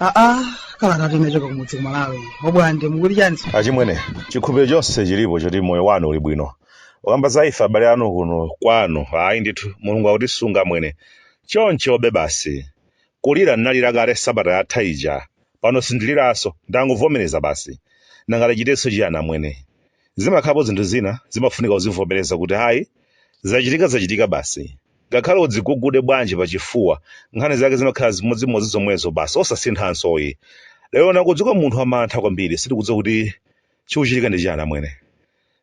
aa kalata yochoka kumudzi kumalawi bwande mukuti chani achimwene chikhulupiriro chonse chilipo choti moyo wanu uli bwino ukamba za ife abale anu kuno kwanu ayi ndithu mulungu akutisunga mwene chonchobe basi kulira ndinalira kale sabata yatha ija Pano sindiliranso, ndangovomereza basi. Nanga tichitenso chiyani amwene? Zimakhalapo zinthu zina zimafunika kuzivomereza kuti ayi, zachitika zachitika basi. Ngakhale udzigugude bwanji pachifuwa, nkhani zake zimakhala zimodzimodzi zomwezo basi osasinthanso yi. Lero ndangodzuka munthu wa mantha kwambiri sindikudziwa kuti chikuchitika ndi chiyani amwene.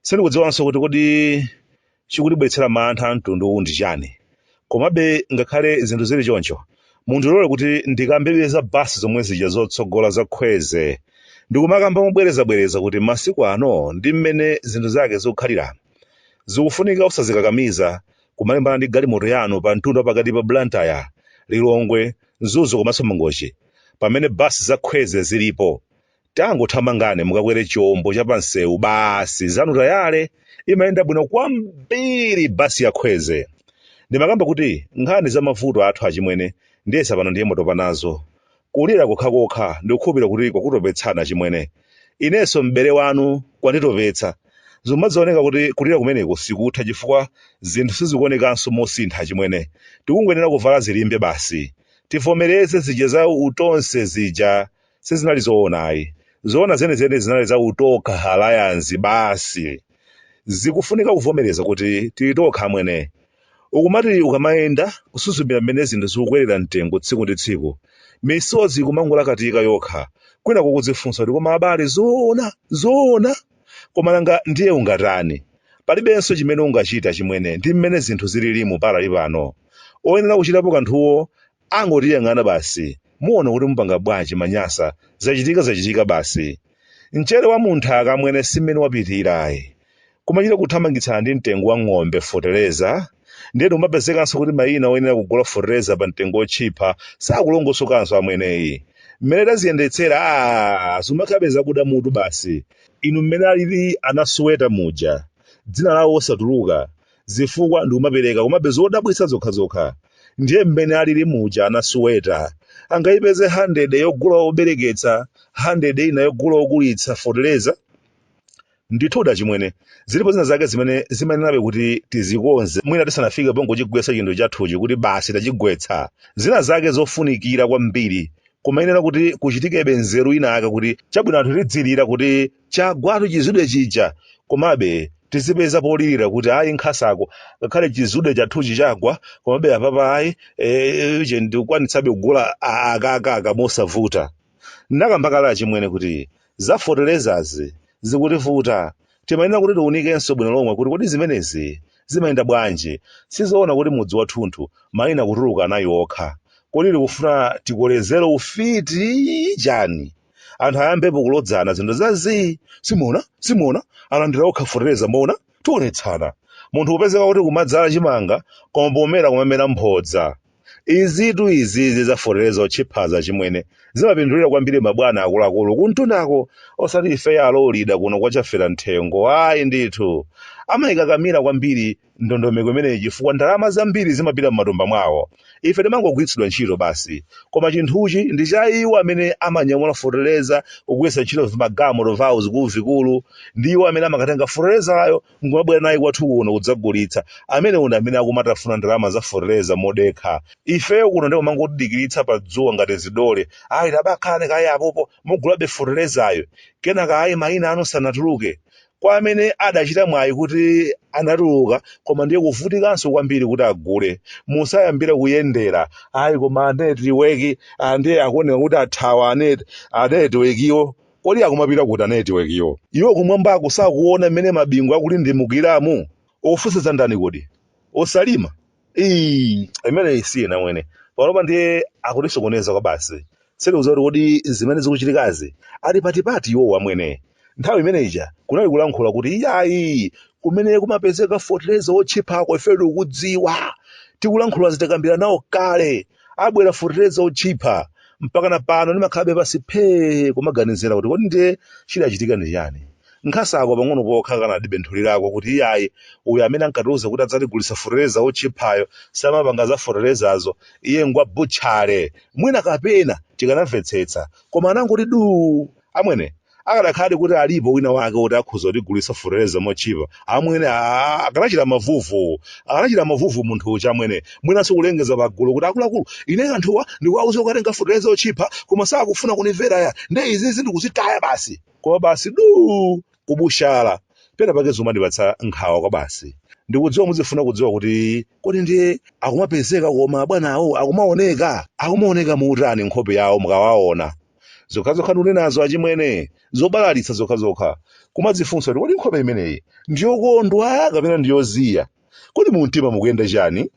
Sindikudziwanso kuti kodi chikutibweretsera mantha amtundu uwu ndi chani? Komabe ngakhale zinthu zili choncho, mundilole kuti ndikambebe za bus zomwe zija zotsogola za khweze. Ndikumakamba mobwerezabwereza kuti masiku ano ndi mmene zinthu zake zikukhalira, zikufunika osazikakamiza kumalimbana ndi galimoto yanu pa mtunda wa pakati pa Blantyre, Lilongwe, Mzuzu komanso Mangochi pamene bus za khweze zilipo. Tangothamangani mukakwere chombo cha pamsewu basi zanu tayale imayenda bwino kwambiri bus ya khweze. Ndimakamba kuti nkhani za mavuto athu achimwene ndiyesa pano ndiye mwatopa nazo. Kulira kokhakokha ndikukhulupirira kuti kwakutopetsani achimwene. Inenso m'bale wanu kwanditopetsa. Zikumazaoneka kuti kulira kumeneko sikutha chifukwa zinthu sizikuonekanso mosintha achimwene. Tikungoyenera kuvala zilimbe basi. Tivomereze zija za u Tonse zija. sizinali zoona ayi zoona zenizeni zinali za utokha alliance basi zikufunika kuvomereza kuti tili tokha amwene ukumati ukamayenda kusuzumira mmene zinthu zikukwerera mtengo tsiku ndi tsiku misozi ikumangolakatika yokha kwina kukudzifunsa kuti koma abale zoona zoona koma nanga ndiye ungatani palibenso chimene ungachite achimwene ndi mmene zinthu zililimu panali pano oyenera kuchitapo kanthuwo angotiyang'ana basi muona kuti mupanga bwanji manyasa zachitika zachitika basi mchere wa munthaka amwene simmene wapitira ayi kumachita kuthamangitsana ndi mtengo wa ng'ombe fotereza ndiye tikumapezekanso kuti mayina oyenera kugula fotereza pa mtengo otchipha sakulongosokanso amwene ayi mmene aziyendetsera a zimakhalabe zakuda mutu basi inu mmene alili anasuweta muja dzina lawo osatuluka zifukwa ndikumapereka komabe zodabwitsa zokhazokha ndiye mmene alili muja anasuweta angayipeze 100 yogula obereketsa 100 ina yogula okulitsa foteleza ndithu achimwene zilipo zina zake zimene zimayenerabe kuti tizikonze mwina tisanafike pongochigwetsa chinthu chathuchi kuti basi tachigwetsa zina zake zofunikira kwambiri kumayenera kuti kuchitikebe nzeru ina ake kuti chabwino anthu tidzilira kuti Chagwatu chizude chija komabe tizipeza polirira kuti ayi nkhasako ngakhale chizude chathuchi chagwa komabe apapa ayi eh, uje ndikwanitsabe kugula a- aka aka aka mosavuta ndakamba kale achimwene kuti zafoterezazi zikutivuta timayenera kuti tiunikenso bwino lomwe kuti kodi zimenezi zimayenda bwanji sizoona kuti mudzi wathunthu mayina kutuluka anayi okha kodi tikufuna tikolezere ufiti chani anthu ayambepo kulodzana zinthu za zii simuona simuona alandira okha fertilizer muona tionetsana munthu kupezeka kuti kumadzala chimanga koma pomera kumamera mphodza izitu izizi za fertilizer otchiphazi achimwene zimapindulira kwambiri mabwana akuluakulu kumtundako osati ifeyo alolida kuno kwachafera mthengo ayi ndithu amayikakamira kwambiri ndondomeko imeneyi chifukwa ndalama zambiri zimapita m'matumba mwawo. Ife timangogwiritsidwa ntchito basi. Koma chinthuchi ndi cha iwo amene amanyamula feteleza, kugwiritsa ntchito vimagalimoto vawo, vikuluvikulu, ndi iwo amene amakatenga fetelezayo n'kumabwera naye kwathu kuno kudzagulitsa. Amenewo ndi amene akumatafuna ndalama za feteleza modekha. Ifeyo kuno ndiye kumangotidikiritsa pa dzuwa ngati zidole. Ayi, tabakhalani kaye apopo, mugulabe fetelezayo. Kenaka ayi, mayina anu sanatuluke. Kwa amene adachita mwayi kuti anatuluka koma ndiye kuvutikanso kwambiri kuti agule. Musayambira kuyendera ayi koma anetiweki ah, ndiye akuoneka kuti athawa anetiwekiwo. Kodi akumapita kuti anetiwekiwo? Iwo kumwambako sakuona mmene mabingu akulindimukiramu? Ofunsa za ndani kodi? Osalima? Ii, imeneyi si ina amwene panopa ndiye akutisokoneza kwabasi sitikudziwa kuti kodi zimene zikuchitikazi ali patipati iwowo amwene nthawi imene ija kunali kulankhula kuti iyayi kumene kumapezeka fotereza wotchiphako ifeyo tikudziwa tikulankhula zitakambira nawo kale abwera forteza otchipha mpakana pano ndimakhalabe pansi phee kumaganizira kuti kodi ndiye chidachitika ndi chani nkhasako pang'ono pokha akanatibenthulirako kuti iyayi uyu amene ankatiuza kuti adzatigulitsa forteza otchiphayo samapanga za fortezazo iye ngwa butchale mwina kapena tikanamvetsetsa koma anangoti duu amwene akadakhala kuti alipo wina wake woti akhoza kutigulitsa fertilizer motchipa amwene aa akanachita mavuvu akanachita mavuvu munthu uja amwene mwinanso kulengeza pagulu kuti akuluakulu ine anthuwa ndikuwauza kukatenga fertilizer otchipa koma sakufuna kunimvera ya nde izizi ndikuzitaya basi koma basi du kubutsala pena pake zomandipatsa nkhawa kwa basi ndikudziwa muzifuna kudziwa kuti kodi ndiye akumapezeka koma bwana awo akumaoneka akumaoneka motani nkhope yawo mukawaona zokhazokha ndikunenazo achimwene zobalalitsa zokhazokha kumadzifunsa kuti kodi nkhope imeneyi ndiyokondwa kapena ndiyoziya kodi mu mtima mukuyenda chani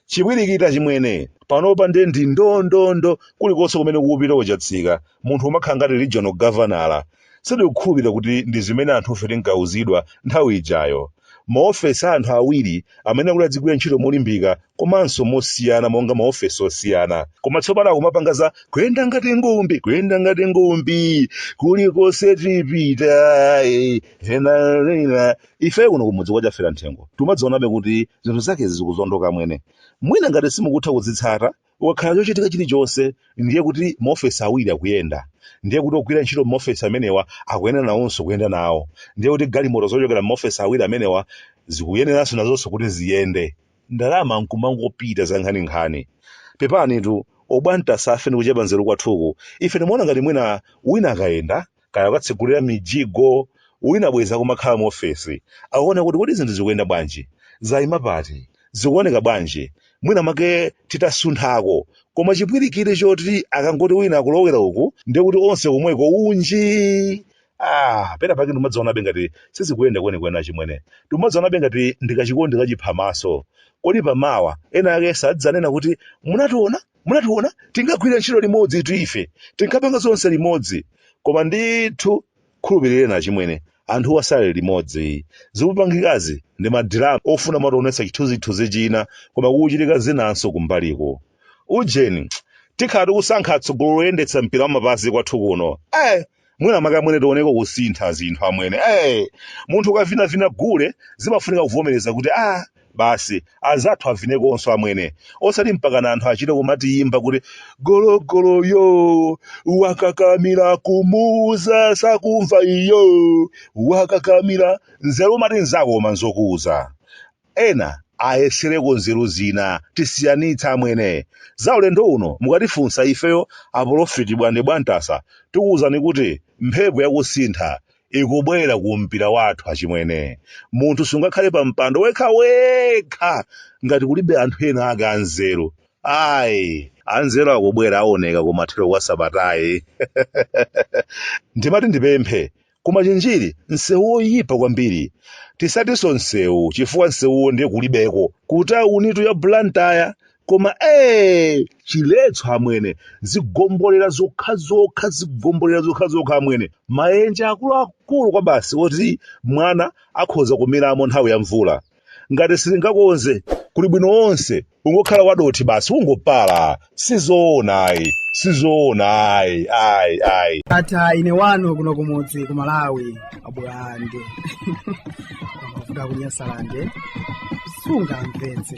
chipwirikiti achimwene panopa nde ndi ndondondo kulikonse kumene akupita otsatsika munthu umakhala ngati regional governor sindikukhulupirira kuti ndi zimene anthufe tinkauzidwa nthawi ijayo Maofesi a anthu awiri amene akuti adzigwira ntchito molimbika komanso mosiyana monga maofesi osiyana. Koma tsopano akumapanga za kuyenda ngati ngumbi, kuyenda ngati ngumbi, kulikonse tipita, eh, hena, hena. Ife kuno kumudzi kwa Chafera Nthengo timaziwonabe kuti zinthu zakezi zikuzondoka amwene. Mwina ngati simukutha kuzitsata, kukakhala chochitika chilichonse ndiye kuti maofesi awiri akuyenda ndiye kuti ogwira ntchito m'maofesi amenewa akuyenera nawonso kuyenda nawo ndiye kuti galimoto zochokera m'maofesi awiri amenewa zikuyeneranso nazonso kuti ziyende ndalama nkumangopita zankhaninkhani pepanitu abwana zathu ife ndi kuchepa nzeru kwathuku ife timaona ngati mwina wina akayenda kaya kukatsegulira mijigo, wina bwenzi akumakhala mu ofesi, akuona kuti kodi zinthu zikuyenda bwanji, zaima pati, zikuoneka bwanji, mwina mwake titasunthako, koma chipwirikiti choti akangoti wina akulowera uku ndiye kuti onse komweko unjii! Ah, pena pake ndimazionabe ngati sizikuyenda kwenikweni achimwene, ndimazionabe ngati ndikachikondi kachiphamaso, kodi pamawa ena ake sadzanena kuti munationa? munationa tinkagwira ntchito limodzi itu ife tinkapanga zonse limodzi koma ndithu khulupirireni achimwene anthuwa sali limodzi zikupangikazi ndi madirama ofuna kumationetsa chithunzithunzi china koma kukuchitika zinanso kumbaliko ujeni tikhala tikusankha atsogoleri oyendetsa mpira wamapazi kwathu kuno eh mwina mwake amwene tioneko kusintha zinthu amwene hey, munthu ukavinavina gule zimafunika kuvomereza kuti ah basi azathu avinekonso amwene osati mpakana anthu achite kumatiyimba kuti gologoloyo wakakamira kumuuza sakumva iyo wakakamira nzeru umati nzako koma nzokuuza Ena ayesereko nzeru zina tisiyanitse amwene. Za ulendo uno mukatifunsa ifeyo apolofiti Bwande Bwantasa tikuuzani kuti mphepo ya kusintha ikubwera ku mpira wathu achimwene. Munthu sungakhale pa mpando wekhawekha ngati kulibe anthu ena ake anzeru ai. Anzeru akubwera aoneka kumathero kwa sabatayi. Ndimati ndipemphe koma chinjiri msewu woyipa kwambiri tisatinso msewu chifukwa msewuwo ndiye kulibeko kutawunitu ya blantyre koma ee chiletso amwene zigombolera zokhazokha zigombolera zokhazokha amwene maenje akuluakulu kwabasi oti mwana akhoza kumiramo nthawi ya mvula ngati sitingakonze kuli bwino onse ungokhala wadothi basi ungopala sizoona ayi sizoona ayi ayi ayi ata ine wanu kuno kumudzi ku malawi a Bwande amavuta ku Nyasalande sungamvetse